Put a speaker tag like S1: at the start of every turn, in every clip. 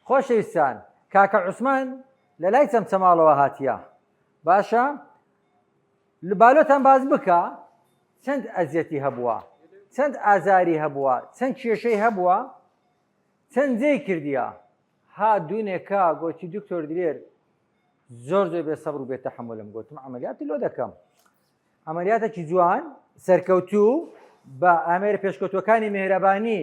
S1: خۆشەویستان کاکە عوسمان لە لای چەمچەماڵەوە هاتیە باشە لبالۆتان باس بکە چەند ئەزیەتی هەبووە چەند ئازاری هەبووە چەند کێشەی هەبووە چەند جێی کردیە ها دوونێکە گۆتی دکتۆر درێر زۆر زۆر بێ سەبر و بێ تەحملم گوتم ئەمەلیاتی لۆ دەکەم ئەمەلیاتێکی جوان سەرکەوتوو بە ئامێرە پێشکەوتوەکانی مهرەبانی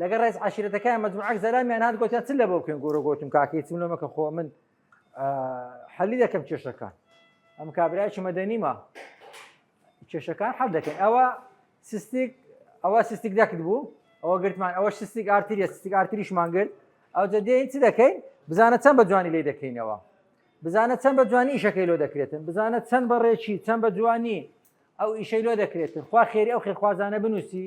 S1: لەگەڵ ڕێز عشیرەتەکەیان مەجموعەک زەلامیان هاات گوتیان چ لە بۆ بکەن گۆرە گۆتم کاکەی چون لەمەکە خۆ من حەلی دەکەم کێشەکان ئەم کابراایکی مەدەنیمە کێشەکان حەل دەکەن ئەوە سستیک ئەوە سستیک دەکرد بوو ئەوە گرتمان ئەوە سستیک ئارتریە سستیک ئارتریشمان گرت ئەو دەدەین چ دەکەین بزانە چەند بە جوانی لی دەکەینەوە بزانە چەند بە جوانی ئیشەکەی لۆ دەکرێتن بزانە چەند بەڕێکی چەند بە جوانی ئەو ئیشەی لۆ دەکرێتن خوا خێری ئەو خێخوازانە بنووسی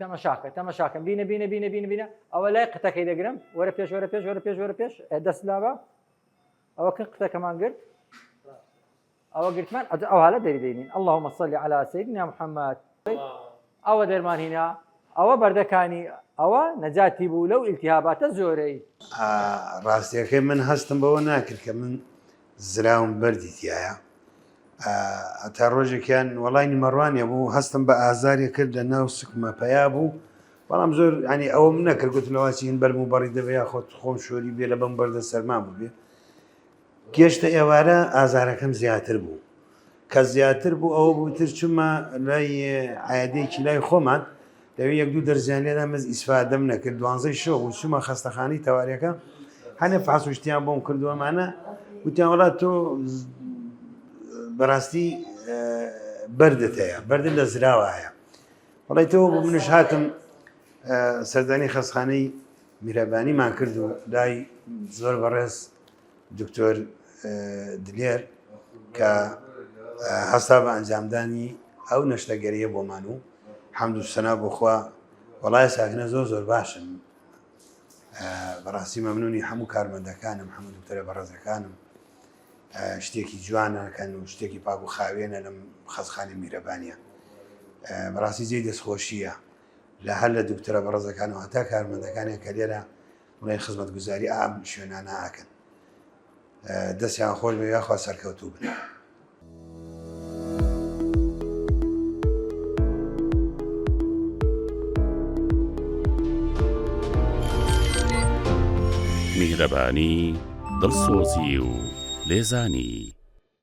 S1: تەمەشاکە تەمەشاکەم بینە بینە بینە بینە بینە ئەوە لای قتەکەی دەگرم وەرە پێش وەرە پێش وەرە پێش وەرە پێش دەست لاوە ئەوە کە قتەکەمان گرت ئەوە گرتمان ئەج ئەو هەالە دەریدەین ئەله مەسەلی على سیدنا محەممەد ئەوە دەرمان هینا ئەوە بەردەکانی ئەوە نەجاتی بوو لەو ئیلتیهاباتە زۆرەی
S2: ڕاستیەکەی من هەستم بەوە ناکرد کە من زراوم بەردی تیایە هەتا ڕۆژێکیان وەڵای نیمەڕوانێ بوو هەستم بە ئازارێ کرد لە ناو سکمە پیا بوو بەڵام زۆر ینی ئەوم نەکرد گوت لەواچین بەرم و بەڕی دەبێ یا خۆت خۆم شۆری بێ لە بەم بەردە سەرما بووێ گەشتە ئێوارە ئازارەکەم زیاتر بوو کە زیاتر بوو ئەوە بوو تر چما لای عادێکی لای خۆمان دەوی یەک دوو دەرزیان لێدا مەز ئیسفادەم نەکرد دوانزەی شۆ و چما خەستەخانی تەوارەکە هەنێ فاسوشتیان بۆم کردووەمانە وتیان وڵا تۆ بەڕاستی بەردت هەیە بەردن لە زراوە هەیە وڵی تۆ بۆ منش هاتم سەردانی خەستخانەی میرەبانیمان کرد و دای زۆر بەڕێز دکتۆر دلێر کە هەستا بە ئەنجامدانی ئەو نەشتەگەریە بۆمان و حەمد و سەنا بۆخوا وەڵای ساکنە زۆر زۆر باشن بەڕاستی مەمنونی هەموو کارمەندەکانم هەموو دکتەرە بەڕێزەکانم شتێکی جوانەکەن و شتێکی پاک و خاوێنە لەم خەزخانی میرەبانە بەڕاستی جێ دەستخۆشیە لە هەر لە دکتەرە بەڕێزەکان و هەتا کارمەندەکانیان کە لێرە بڵێن خزمەتگوزاری ئام شوێنانە ئەکەن دەستیان خۆش بێ یاخوا سەرکەوتوو بن.
S3: میهرەبانی دڵسۆزی و لێزانی